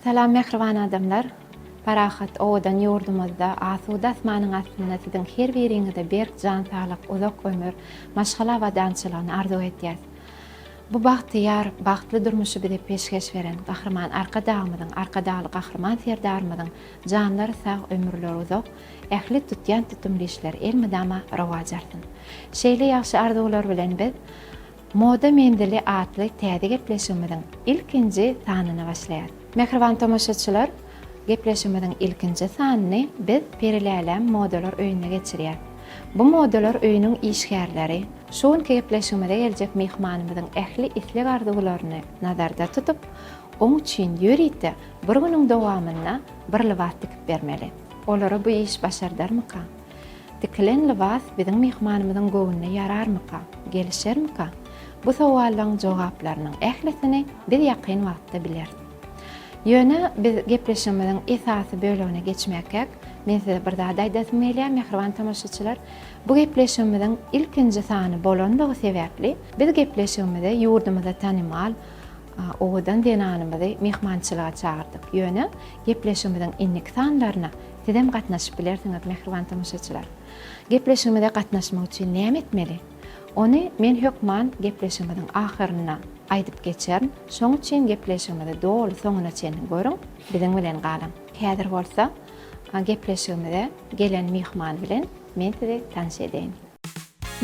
Salam mähriban adamlar! Parahat, owadan ýurdumyzda, asuda asmanyň astynda siziň her biriňize berk jan saglyk, uzak ömür, maşgala abadançylygyny arzuw edýäs. Bu bagtyýar, bagtly durmuşy bize peşgeş beren Gahryman Arkadagymyzyň, Arkadagly Gahryman Serdarymyzyň janlary sag, ömürleri uzak, ähli tutýan tutumly işleri elmydama rowaç alsyn! Şeýle ýagşy arzuwlar bilen biz Moda menzili atly täze gepleşigimiziň ilkinji sanyny başlaýarys. Mähriban tomaşaçylar, gepleşigimiziň ilkinji sanyny biz Periläläm modalar öýünde geçirýäs. Bu modalar öýüniň işgärleri şu günki gepleşigimize geljek myhmanymyzyň ähli isleg-arzuwlaryny nazarda tutup, oň üçin ýörite bir günüň dowamynda bir lybas tikip bermeli. Olara bu iş başardarmyka? Tikilen lybas biziň myhmanymyzyň göwnüne ýararmyka, gelişermika? Bu sowallaryň jogaplarynyň ählisini biz ýakyn wagtda bileris. Ýöne biz gepleşigimiziň esasy bölegine geçmäkäk, men size bir zat aýdasym gelýär, mähriban tomaşaçylar. Bu gepleşigimiziň ilkinji sany bolanlygy sebäpli, biz gepleşigimize ýurdumyzda tanymal, Owadan zenanymyzy myhmançylyga çagyrdyk. Ýöne gepleşigimiziň indiki sanlaryna sizem gatnaşyp bilersiňiz, mähriban tomaşaçylar. Gepleşigimize gatnaşmak üçin näme etmeli? Ony men hökman gepleşigimiziň ahyrynda aýdyp geçerin. Şoň üçin gepleşigimizi doly soňuna çenli görüň, biziň bilen galyň. Häzir bolsa gepleşigimize gelen myhman bilen men sizi tanyş edeýin.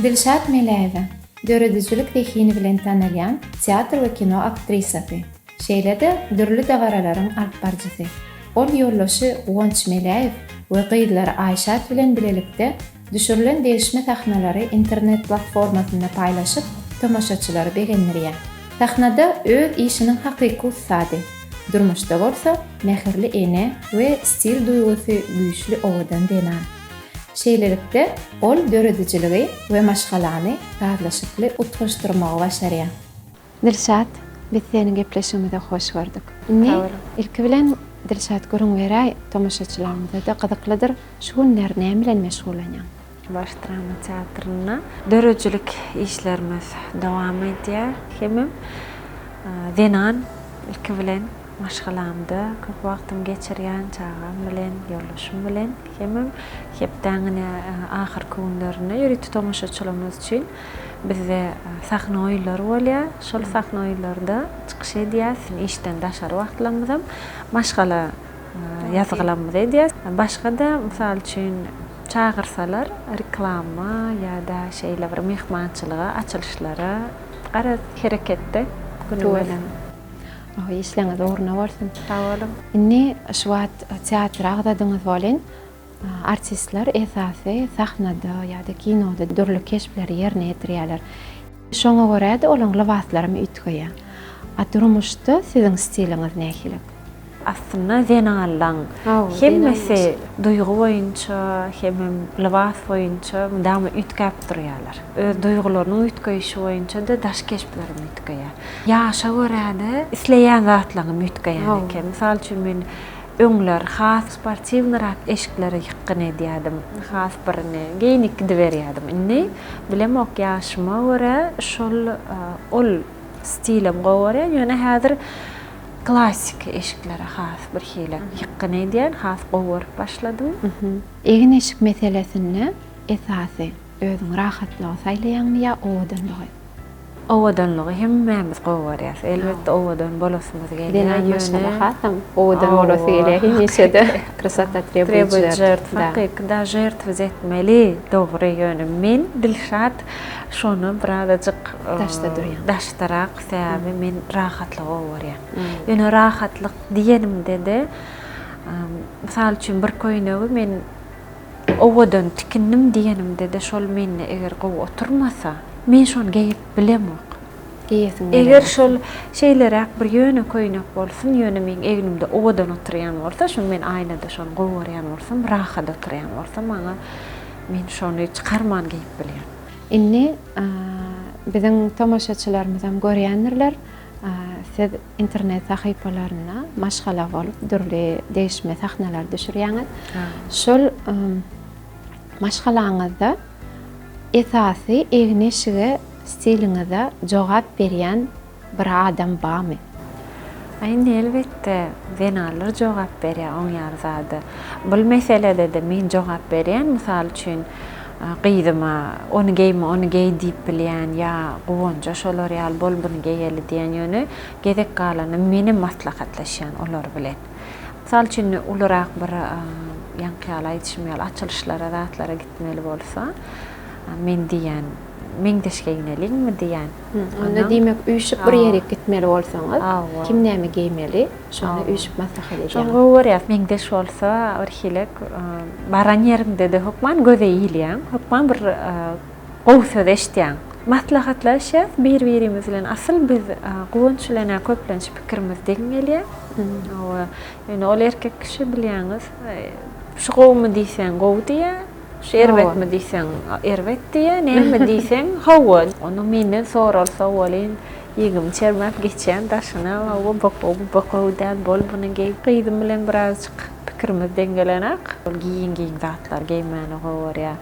Dilşat Meläýewa, döredijilik zehini bilen tanalýan teatr we kino aktrisasy, şeýle-de dürli dabaralaryň alyp baryjysy. Ol ýoldaşy Guwanç Meläýew we gyzlary Aýşat bilen bilelikde düşürilen degişme sahnalary internet platformasynda paýlaşyp, tomaşaçylary begendirýär. Sahnada öz işiniň hakyky ussady, durmuşda bolsa mähirli ene we stil duýgusy güýçli owadan zenan. Şeýlelikde, ol döredijiligi we maşgalany sazlaşykly utgaşdyrmagy başarýar. Dilşat, biz seniň gepleşigimize hoş gördük. Indi, ilki bilen, Dilşat, gürrüň beräý, tomaşaçylarymyza-da gyzyklydyr, şu günler näme bilen meşgullanýaň? Baş drama teatrynda döredijilik işlerimiz dowam edýär hemem zenan, ilki bilen, Maşgalamda köp wagtymy geçirýän çagam bilen, ýoldaşym bilen. Hemem hepdäň ine ahyrky günlerinde ýörite tomaşaçylarymyz üçin bizde sahna oýunlary bolýar. Şol sahna oýunlarynda çykyş edýäs. Işden daşary wagtlarymyzam maşgala ýazgylarymyzy edýäs. Başga-da, mysal üçin, çagyrsalar reklama ýa-da şeýle bir myhmançylyga, açylyşlara, garaz, hereketde günümiz. Işleňiz ugruna bolsun. Sag boluň. Indi şu wagt teatry agzadyňyz welin, artistler esasy sahnada ýa-da kinoda dürli keşpleri ýerine ýetirýärler. Şoňa görä-de olaryň lybaslaram üýtgeýär. A durmuşda siziň stiliňiz nähili? Aslynda zenanlaň hemmesi duýgy boýunça hemem lybas boýunça mydama üýtgäp durýalar. Öz duýgularynyň üýtgeýşi boýunça-da daş keşplerem üýtgeýär. Ýaşa görä-de isleýän zatlaňam üýtgeýän eken. Mysal üçin men öňler has sportiwnyrak eşikleri ýykgyn edýärdim. Has bir indi geýnip gidiberýärdim. Indi bilemok ýaşyma görä şol ol stilem gowy görýän. Ýöne häzir Klassiki eşiklere has birhili ýykgyn edýän, has gowy görüp başladym. Egin-eşik meselesinde esasy özüň rahatlygy saýlaýaňmy ýa owadanlygy? Owadanlygy hemmämiz gowy görýäs. Elbetde owadan bolasymyz gelýär. Zenan maşgala hasam owadan bolasy gelýär hemişe-de. Krasota trebujýet. Trebujýet, hakyky-da žertwz etmeli, dogry. Ýöne men, Dilşat, şony birazajyk daşda durýan. Daşdarak Sebäbi men rahatlygy gowy görýän. Ýöne rahatlyk diýenimde-de, mysal üçin bir köýnegi men owadan tikindim diýenimde-de şol mende eger gowy oturmasa, men şony geýip bilemok. Geýesim gelenok. Eger şol şeýleräk bir ýöne köýnek bolsun, ýöne meň egnimde owadan oturýan bolsa, şuny men aýnada şony gowy görýän bolsam, rahat oturýan bolsa maňa, men şony çykarman geýip bilýän. Indi biziň tomaşaçylarymyzam görýändirler, siz internet sahypalarynda maşgala bolup dürli degişme sahnalary düşürýäňiz. Şol maşgalaňyzda esasy egin-eşige stiliňize jogap berýän Bir adam bamy? A indi elbetde zenanlar jogap berýär oň ýaly zada. Bul meselede-de men jogap berýän, mysal üçin, gyzyma ony geýme, ony geý diýip bilýän ýa Guwanja şolar ýaly bol buny geýeli diýen ýöne gezek galanda menem maslahatlaşýan olar bilen. Mysal üçin ulurak bir ýaňky ýaly aýdyşym ýaly açylyşlara zatlara gitmeli bolsa men diýýän, Meňzeşge ineliňmi diýýän. Onda diýmek üýşüp bir ýere gitmeli bolsaňyz, kim näme geýmeli, şony üýşüp maslahat edýäňiz. Şony gowy görýäs. Meňzeş bolsa birhilek baran ýeriňde-de hökman göze ilýäň, hökman bir gowy söz eşitýäň. Maslahatlaşýas bir-birimiz bilen. Asyl biz Guwanç bilen-ä köplenç pikirimiz deň gelýär. Ýöne ol erkek kişi bilýäňiz, şu gowumy diýseň gowy diýýär. Şu erbetmi diýseň, erbet diýýär, näme diýseň, hawa. Ony menden soralsa welin, ýigimi çermäp geçýän daşyna, Hawa, boko, bu boko däl, bol buny geý. Gyzym bilen birazjyk pikirimiz deňgelenak. Ol giýiň-giýiň zatlary geýmäni gowarýar.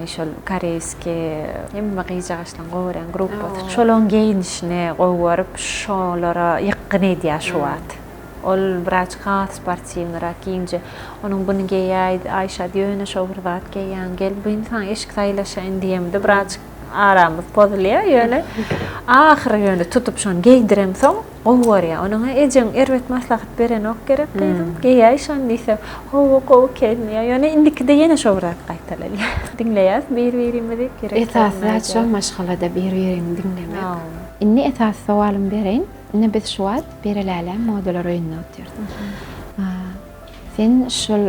Şol koreýskiý, hemme gyzjagaşlaryň gowarýan gruppasy. Şolaryň geýnişini gowaryp, şolara ýykgyn edýär şu wagt. Ol biraz has sportiwnyrak geýinje, onuň buny geýäý, Aýşat ýöne şo bir zat geýýäň, gel bu indi saňa eşik saýlaşaýyn diýemde birazjyk aramyz pozulýar, ýöne ahyry ýöne tutup şony geýdiremsoň gowy görýär. Onuň ejeň erbet maslahat berenok gerek gyzym, geýäý şony diýse, hawa gowy eken diýýär, ýöne indikide ýene şo bir zat gaýtalanýar. Diňleýäs bir-birimizi, gerek zat şo maşgalada bir-biriňi diňlemek. Indi esasy sowalymy bereýin. Ine biz şu wagt Bere Läle modalar öýünde otyrys. Sen şol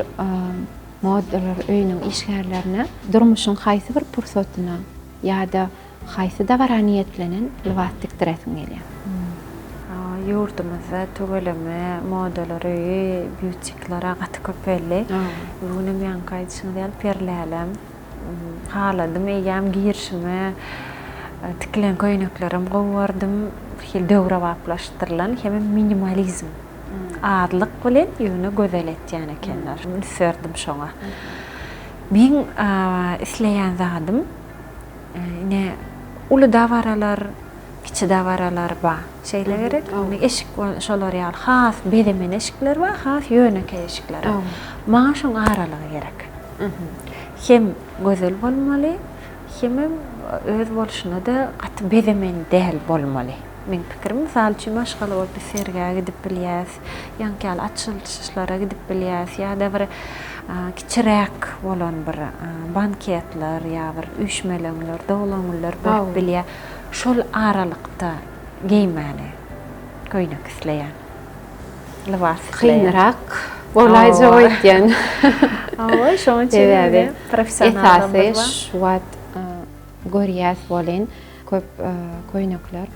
modalar öýüniň işgärlerine durmuşyň haýsy bir pursatyna ýa-da haýsy dabara niýetlenen lybas tikdiresiň gelýär? Ýurdumyzda tüweleme modalar öýi, butikler gaty köpeldi. Bu gün hem ýaňky aýdyşyňyz ýaly Peri Lälem, Haladym, eýýäm girişime tikilen köýneklerem gowardym. Hil döwrebaplaşdyrylan hemem minimalizm. Azlyk bilen, ýöne gözel etýän ekenler. Üns berdim şoňa. Meň isleýän zadym, ine, uly dabaralar, kiçi dabaralar bar. Şeýle gerek. Indi eşik bolsa şolar ýaly has bezemen eşikler bar, has ýönekeý eşikler. Maňa şoň aralygy gerek. Hem gözel bolmaly, hemem öz bolşuna-da gaty bezemen däl bolmaly. Meň pikirim, mysal üçin, maşgala bolup biz sergä gidip bilýäs, ýaňky ýaly açylyşlara gidip bilýäs ýa-da bir kiçiräk bolan bir banketler ýa bir üýşmeleňler, doglan-günler bolup bilýär. Şol aralykda geýmäni köýnek isleýän. lybas isleýän. Kynrak bolaýjak öýtýän. Hawa, şonuň üçin indi professionallarymyz bar. Şu wagt görýäs welin, köp köýnekler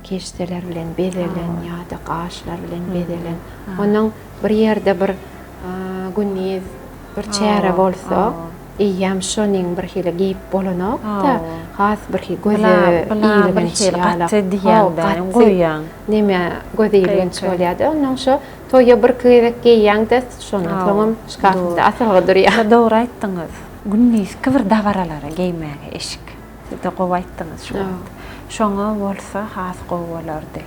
keşdeler bilen bezelen ýa-da gaşlar bilen bezelen. Onuň bir ýerde bir gündiz bir çäre bolsa. Eýýäm şonuň birhili geýip bolanok-da, has birhi göze ilginç ýalam. Neme göze ilginç bolýar-da, onnoň şo toýa birki gezek geýýäň-de, şondan soňam şkafyňda asylgy durýar. Dogry aýtdyňyz. Gündizki bir dabaralara geýmäge eşik. Juda gowy aýtdyňyz şu wagt. Şoňa bolsa has gowy bolardy.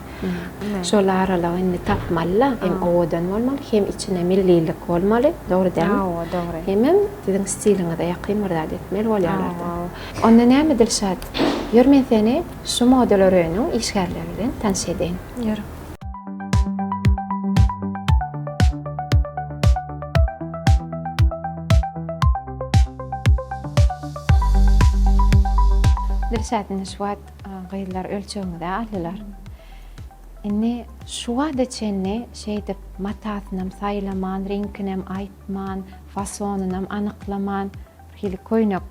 Şol aralygy indi tapmaly-la, hem owadan bolmaly, hem içinde millilik bolmaly, dogry dälmi? Hawa, dogry. Hemem siziň stiliňize ýakyn bir zat etmeli bolýarlar-da. Onda näme Dilşat, ýör men seni şu modalar öýüniň işgärleri bilen tanyş edeýin. Ýör. Dilşatny şu wagt gyzlar ölçegimize aldylar. Indi şu wagta çenli şeýdip matasynam saýlaman, reňkinem aýtman, fasonynam anyklaman, hili köýnek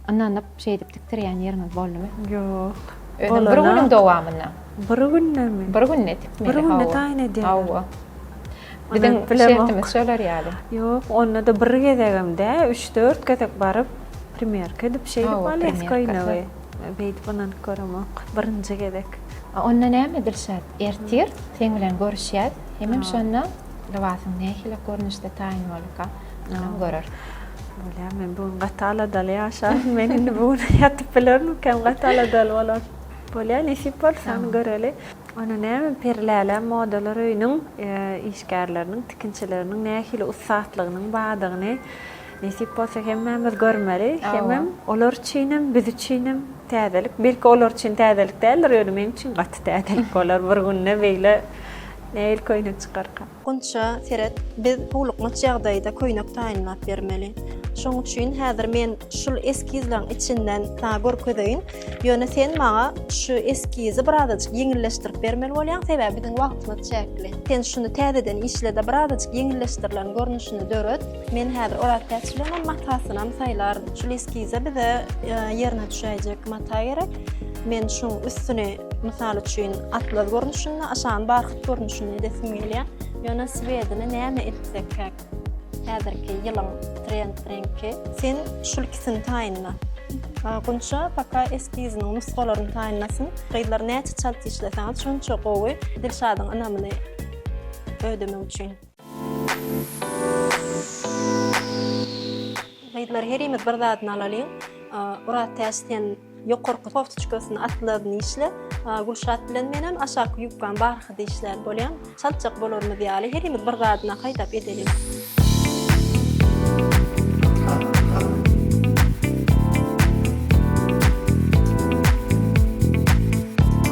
Ynanyp şeýdip tikdirýän ýeriňiz boldumy? Ýok. Özem bir günüň dowamynda. Bir gündemi? Bir günde tikmeli. Bir günde taýyn edýär. Hawa. Biziň şertimiz şolar ýaly. Ýok, onda-da bir gezegem dä, üç-dört gezek baryp, primerka edip şeýdip alýas köýnegi. Beýdip ynanyp göremok. Birinji gezek. Onda näme Dilşat, ertir seň bilen görüşýäs, hemem şonda lybasyň nähili görnüşde taýyn bolduka? Ynam görer. Bolýar, men bu gün gaty aladaly ýaşadym, men indi bu gün ýatyp bilermikäm, gaty aladaly bolar. Bolýar, nesip bolsa, ony göreli. Ony näme, Perilälä modalar öýüniň işgärleriniň, tikinçileriniň nähili ussatlygynyň bardygyny, nesip bolsa, hemmämiz görmeli. Hemem olar üçinem, biz üçinem täzelik. Belki, olar üçin täzelik däldir, ýöne meň üçin gaty täzelik bolar. Bir günde beýle nähili köýnek çykarka. Gunça, seret, biz howlukmaç ýagdaýda köýnek taýynlap bermeli. Şoň üçin häzir men şul eskizleriň içinden saňa görkezeýin. Ýöne sen maňa şu eskizi birazajyk ýeňilleşdirip bermeli bolýaň, sebäbi biziň wagtymyz çäkli. Sen şuny täzeden işle-de, birazajyk ýeňilleşdirilen görnüşini döret. Men häzir orapiýaçylygyňam matasynam saýlaryn. Şul eskize bize ýerine düşäýjek mata gerek. Men şuň üstüni Mysal üçin, atlas görnüşinde, aşan barhyt görnüşinde edesim gelýär. Ýöne swedini näme etsek käk? Häzirki ýylyň trend reňki. Sen şul ikisini taýynla. Gunça paka eskiziniň nusgalaryny taýynlasyn. Gyzlar näçe çalt işleseňiz şonça gowy. Dilşadyň ynamyny ödemek üçin. Gyzlar herimiz bir zadyny alalyň. Oraz täç sen ýokarky koftiçkasyny atlaryny işle. Gülşat bilen menem aşaky ýubkany barha işlär bolýan. Çaltjak bolarymyz ýaly herimiz bir zadyna haýdap edeliň.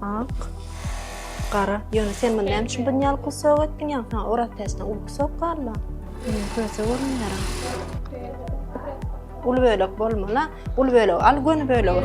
Ak. Gara. Ýöne sen muny näme üçin bun ýaly kusok etdiň ýa? Ha, oraz päsne uly kusok barla. Men köse görünýär. Uly bölek bolmala. Uly bölek al, göni bölek.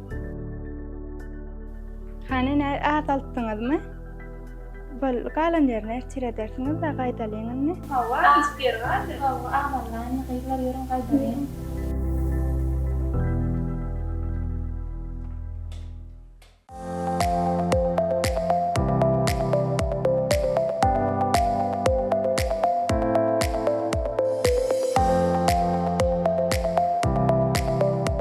Hany ne azaltdyňyzmy? Bol galan ýerini ertir edersiňiz we gaýdalyň indi. Hawa hiç bir ýeri galdy. Hawa azaldylar indi gyzlar ýörüň gaýdalyň.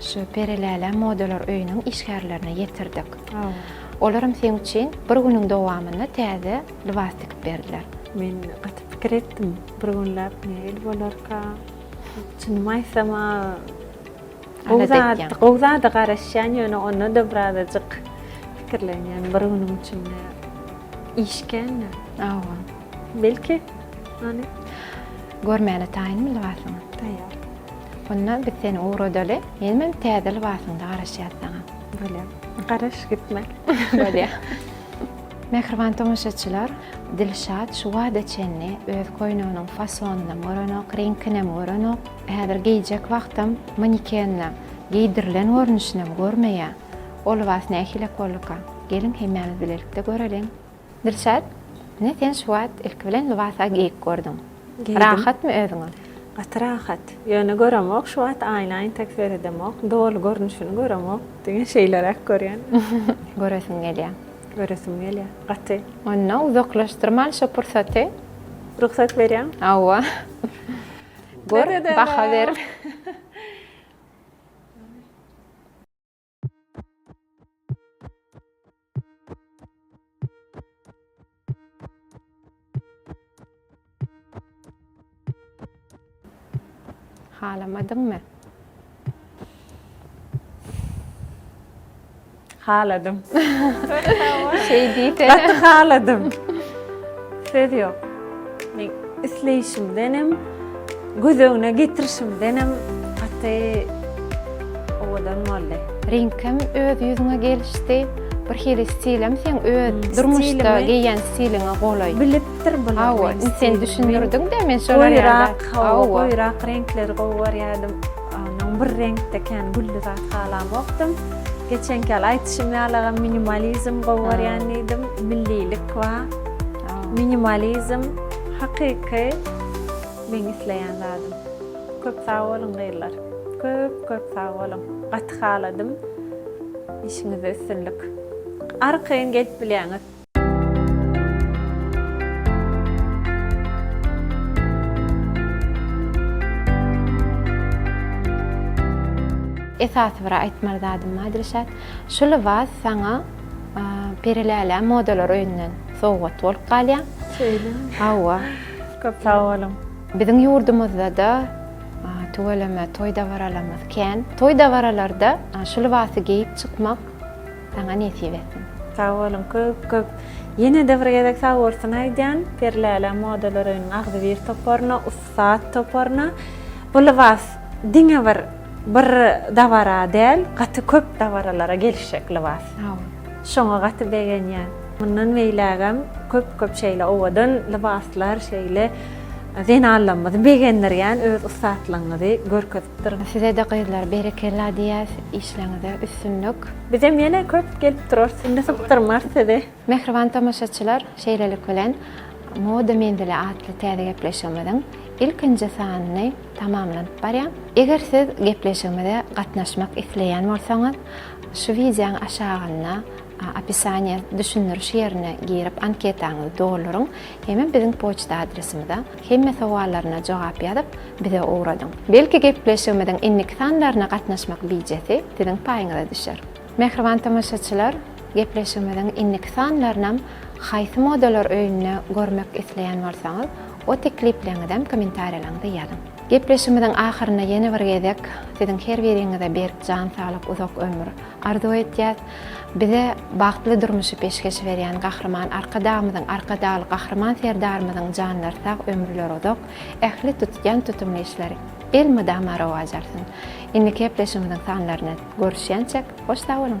Şu Peri Läle modalar öýüniň işgärlerine ýetirdik. Olaram seň üçin bir günüň dowamynda täze lybas tikip berdiler. Men gaty pikir etdim, bir günläp nähili bolarka? Çynymy aýtsam-a, gowy zat, gowy zada garaşýan, ýöne onda-da birazajyk pikirlenýän, bir günüň içinde iş kän-dä. Hawa. Belki, hany? Görmäne taýynmy lybasyňy? Taýýar. Onda biz seni ugradaly. Menem hem täze lybasyňda garaşýas saňa. Bolýa. Garaş gitme. Bolýa. Mähriban tomaşaçylar, Dilşat şu wada çenli öz koýneginiň fasonynam görenok, reňkinem görenok. Häzir geýjek wagtam manikende geýdirilen görnüşinem görmeýä. O lybas nähili okollika? Geliň hemmämiz bilelikde göreliň. Dilşat, ine sen şu wagt ilki bilen lybas-a geýip gördüň. Geýdim. Rahatmy özüňe? Gaty rahat. Ýöne göremok şu wagt aýna entek seredemok. Doly görnüşini göremok. Diňe şeýleräk görýän. Göresiň gelýä? Göresim gelýä. Gaty. Onda uzaklaşdyrman şu pursaty. Rugsat berýäň? Hawa. Gör, baha ber. Halamadymmy? Haladym. Şeýdite. Gaty haladym. Söz ýok. Men isleýşimdenem, göz öňüne getirişimdenem gaty owadan boldy. Reňkem öz ýüzüňe gelişdi. Bir hili stilem seň öz durmuşda geýýän stiliňe golaý. Bilipdir bular. Hawa, indi sen düşündirdiň-dä, men şolar ýaly. Goýurak, hawa, goýurak reňkleri gowy görýärdim. Onuň bir reňkde kän gülli zat halamokdym. Geçenki ýaly aýdyşym ýalagam minimalizm gowy görýän diýdim. Millilik bar. Minimalizm hakyky meň isleýän zadym. Köp sag boluň gyzlar. Köp köp sag boluň. Gaty haladym. Işiňizde üstünlik. Arkaýyn gelip bilýäňiz. Esasy bir aýtmaly zadym Dilşat. Şu lybas saňa Perilälä modalar öýünden sowgat bolup galýar. Şeýlemi? Hawa. Köp sag boluň. Biziň ýurdumyzda-da tüweleme toý-dabaralarymyz kän. Toý-dabaralarda şu lybasy geýip çykmak saňa nesip etsin. Sag boluň köp-köp. Ýene-de bir gezek sag bolsun aýdýan Perilälä modalar öýüniň agzybir toparyna. Saat toparyna bu lybas diňe bir bir dabara däl, gaty köp dabaralara gelişjek lybas. Şoňa gaty begenýän. Mundan beýlägem köp-köp şeýle owadan lybaslar, şeýle zenanlarymyzy begendirýän öz ussatlygyňyzy görkezip duruň. Size-de gyzlar berekella diýýäs, işleriňizde üstünlik. Bizem ýene köp gelip durarys, indi sypdyrmarys sizi. Mähriban tomaşaçylar, şeýlelik bilen Moda menzili atly täze gepleşigimiziň ilkinji sanyny tamamlanyp barýar. Eger siz gepleşigimize gatnaşmak isleýän bolsaňyz, şu wideoň aşagynda opisaniýa, düşündiriş ýerine girip anketaňyzy dolduryň, hemem biziň poçta adresimize hemme sowallaryna jogap ýazyp, bize ugradyň. Belki gepleşigimiziň indiki sanlaryna gatnaşmak bijesi siziň paýyňyza düşer. Mähriban tomaşaçylar, gepleşigimiziň indiki sanlarynam haýsy modalar öýünde görmek isleýän bolsaňyz, o teklipleňizem kommentariýalaňyzda ýazyň. Gepleşigimiziň ahyrynda ýene bir gezek siziň her biriňize berk jan saglyk, uzak ömür arzuw etýäs. Bize bagtly durmuşy peşgeş berýän Gahryman Arkadagymyzyň, Arkadagly Gahryman Serdarymyzyň janlary sag, ömürleri uzak, Ähli tutýan tutumly işleri elmydama rowaç alsyn. Indiki gepleşigimiziň sanlaryna görüşýänçäk hoş sag boluň.